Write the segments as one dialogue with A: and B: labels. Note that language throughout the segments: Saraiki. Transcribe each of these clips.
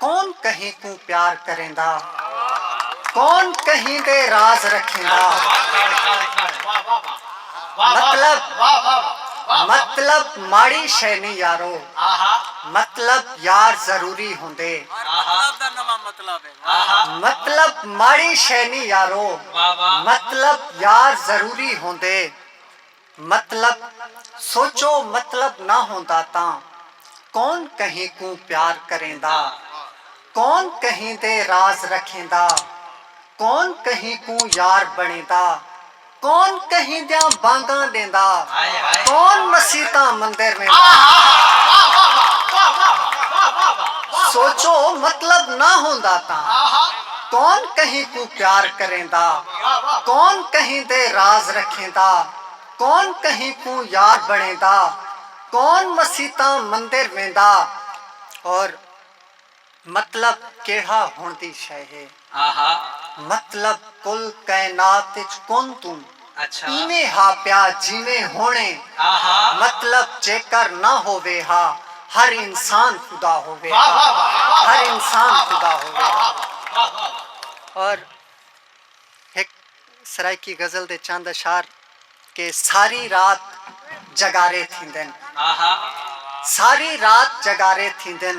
A: کون کہیں
B: کوں پیار کریندا کون کہیں دے راز رکھیندا مطلب مطلب ماڑی شے نی یارو مطلب یار ضروری ہوندے مطلب ماڑی شے نی یارو مطلب یار ضروری ہوندے۔ مطلب سوچو مطلب نہ ہوندا تاں کون کہیں کوں پیار کریندا کون کہیں دے راز رکھیندا کون کہیں کوں یار بنڑیندا کون کہیں دیاں بانگاں ڈیندا کون مسیتاں مندر ویندا سوچو مطلب نہ ہوندا تاں کون کہیں کوں پیار کریندا کون کہیں دے راز رکھیندا کون کہیں کوں یار بنڑیندا کون مسیتاں مندر ویندا اور مطلب کیڑھا ہنڑ دی شے ہے مطلب کل کائنات اچ کون توں ایویں ہا پیا جیویں ہݨ اے۔ مطلب جیکر نہ ہووے ہا ہر انسان خدا ہووے ہا۔ ہر انسان خدا ہووے ہا۔ اور ہک سرائیکی غزل دے چند اشعار کہ ساری رات جگارے تھیندن۔ ساری رات جگارے تھیندن۔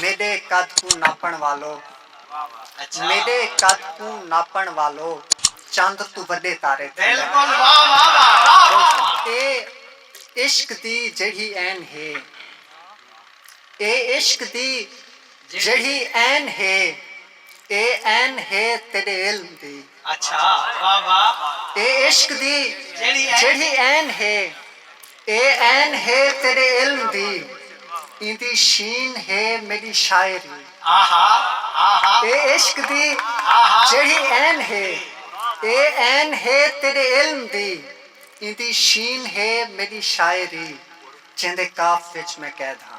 B: میݙے قد کوں ناپݨ والو میݙے قد کوں ناپݨ والو چند توں وݙے تارے تھیندن اے عشق دی جیڑھی عین ہے اے عشق دی جیڑھی عین ہے اے عین ہے تیݙے علم دی اے عشق دی جیڑھی عین ہے۔ اے عین ہے تیݙے علم دی۔ ایندی شین ہے میݙی شاعری۔
A: اے عشق دی
B: جیڑھی
A: عین ہے۔
B: اے عین ہے تیݙے علم دی۔ ایندی شین ہے میݙی شاعری۔
A: جیندے
B: قاف
A: وچ
B: میں قید ہاں۔